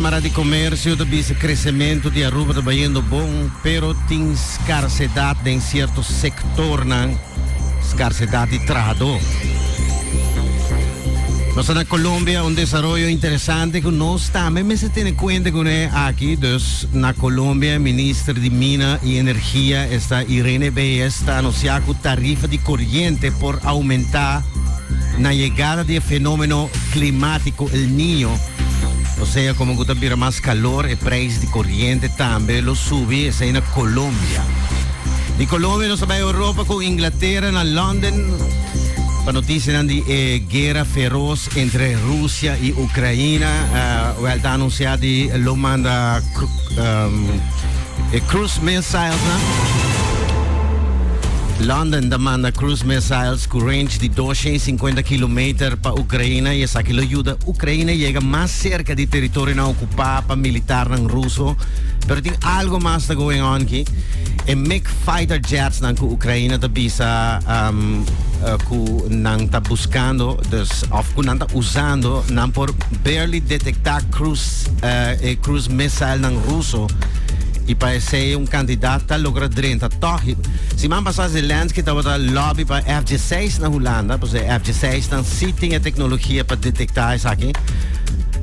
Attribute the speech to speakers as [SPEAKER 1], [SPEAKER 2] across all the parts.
[SPEAKER 1] Kamara di Komersio ta bisa kresementu di Aruba ta bayendo bon, pero tin skarsedat den sierto sektornan, skarsedat di trahadó. Nos ta na Colombia, un desaroyo interesante ku nos tambe mester tene kuenta kuné aki. Dus na Colombia, Minister di Mina i Energia esta Irene Beyes ta anusiá ku tarifa di koriente por oumentá. na yegada di e fenómeno klimático El Niño, osea komo ku ta bira mas kalor e preis di koriente tambe lo subi, esei na Colombia. Di Colombia nos a bai Europa ku Inglatera na London pa notisianan di e guera feros entre Rusia i Ukraina, wèl ta anunsiá di lo manda e cruise missiles nan. London ta manda cruise missiles. Cu range di dosha i sinkuenta kilometer pa Ucraina, i esaki lo yuda Ucraina yega mas cerca di teritorionan ocupa pa militarnan ruso. Pero tin algo mas ta going on aki. E Mig fighter jetsnan cu Ucraina ta bisa cu nan ta buscando, dus of cu nan ta usando, nan por barely detecta e cruise missilenan ruso, i pa esey un cantidad ta logra drenta toch. Siman pasá Zelensky tabata lòbi pa F-diseis na Hulanda, pues e F-diseisnan sí tin e teknologia pa detektá esaki.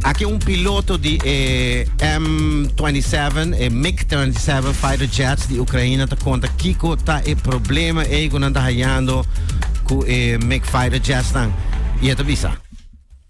[SPEAKER 1] Aki un piloto di e M-27, e MiG-27 fighter jets di Ukraina ta konta kiko ta e problema ei ku nan ta hayando ku e MiG fighter jetsnan i e ta bisa.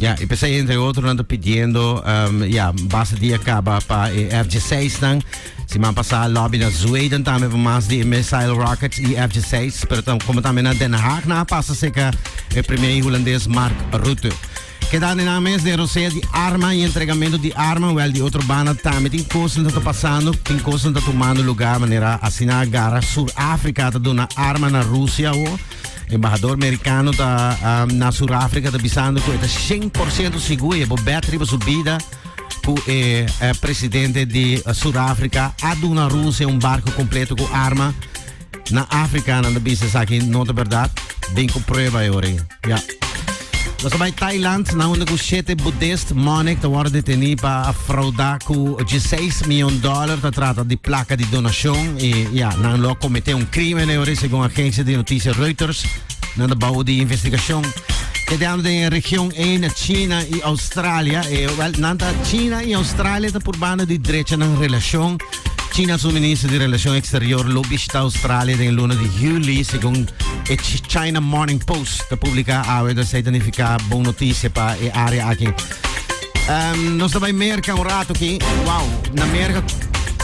[SPEAKER 2] Ja, i pesei entre
[SPEAKER 1] otro nan ta pidiendo um, ja, base dia kaba pa e F-16 nan. Siman pasa lobby na Zweden tambe pa mas di missile rockets i F-16, pero tam, como tambe na Den Haag na pasa seca e premier Holandés Mark Rutte. Queda na mes de rosea di arma y entregamento di arma, wel di otro banda tambe tin cosas ta pasando, tin cosas ta tomando lugar manera asina gara Sur Africa ta dona arma na Rusia o Embahador Merikano ta um, na Surafrika ta bisando ku e ta 100% sigur e bo bet riba su bida ku e eh, presidente di uh, Surafrika a duna Rusia un barco completo ku arma na Afrika na bisa saki no ta verdad. Ben ku prueba e ore. Ja. Nos ta bai Thailand na unda ku shete Buddhist monik ta wòrdu detení pa a frauda ku dieseis mion dòler ta trata di plaka di donashon i ya nan lo a kometé un krímen ei ora segun agensia di notisia Reuters. Nan ta bou di investigashon kedeando den e region ei na China i Australia. E, wèl, nan ta China i Australia ta purbando di drecha nan relashon. China su minister di Relacion Exterior lo bishita Australia den e luna di juli, segun e China Morning Post ta publica awe ta esei ta nifica bon noticia pa e area aki. Um, nos ta bai merca un rato ki, wow, na merca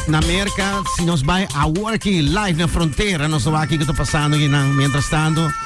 [SPEAKER 1] na Amerika, si nos bai awor ki live na frontera, nos ta waki ki ta pasando ki nan, mientras tanto,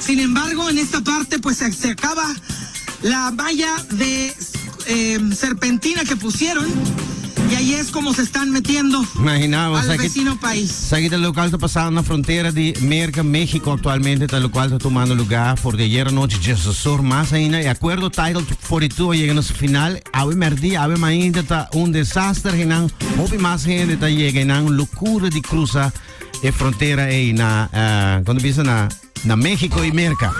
[SPEAKER 3] Sin embargo, en esta parte pues se acaba la malla de serpentina que pusieron y ahí es como se están metiendo al vecino
[SPEAKER 1] país.
[SPEAKER 3] Esaki ta local ta
[SPEAKER 1] pasando na frontera di Merca, Mexico actualmente ta local ta tumando lugar for di ayer anochi diasesor mas ainda y acuerdo Title 42 a yega na su final awe merdia awe mainta ta un desaster eynan hopi mas hende ta yega eynan locura di cruza e frontera ei na, uh, kon bisa na, na México i Merca.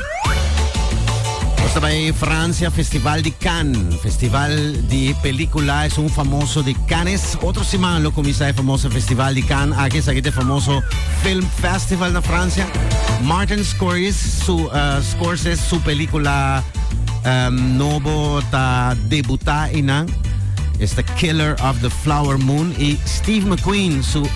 [SPEAKER 1] Nos ta bai Francia, Festival di Cannes, Festival di Película, es un famoso di Cannes. Otro semana lo comienza el famoso Festival di Cannes, aquí es aquí el famoso Film Festival na Francia. Martin Scorsese, su, uh, Scorsese, su película um, novo ta debuta inan. It's the Killer of the Flower Moon. Y Steve McQueen, su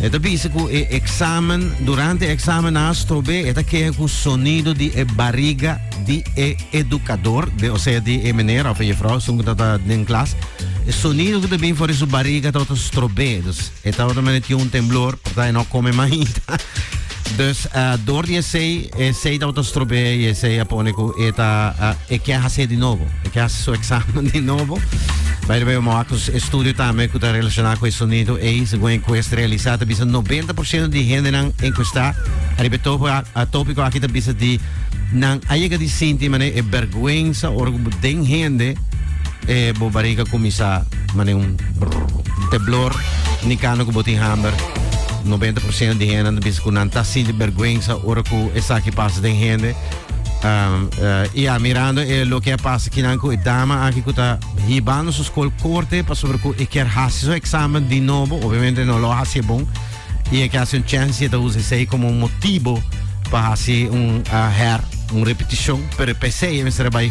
[SPEAKER 1] E ta bisa cu e examen, durante e examen na Astrobe, e ta kee cu sonido di e bariga di e educador, di, o sea, di e meneer of e juffrouw, esun cu tabata den klas, e sonido cu ta bin for di su bariga tabata strobe. Dus, e tabata mane tin un temblor, porta e no a come mainta. Dus dor di esey, esey ta botá strobé y esey a pone cu e ta e kier hacé di nobo, e kier haci su examen di nobo. By the way, vamos a cu estudio tambe cu ta relacioná cu e sonido ey, segun e encuesta realisá ta bisa noventa por ciento di hendenan encuestá ariba e tópico aki ta bisa di nan a yega di sinti manera e berguensa ora cu bo den hende e bo bariga cuminsá manera un brrrr temblor ni cando cu bo tin hamber. Noventa por ciento di hendenan ta bisa ku nan ta sinti bergwensa ora ku esaki pasa den hende. Um, uh, ya, mirando e eh, lo ke a pasa kinan ku e dama aki ku ta hibando su skol korte pasobra ku e kier hasi su eksamen di nobo, obviamente no lo hasi bon, i e ke hasi un chance e ta usa esei komo un motibo pa hasi un uh, her, un repetishon, pero e p'esei e mester a bai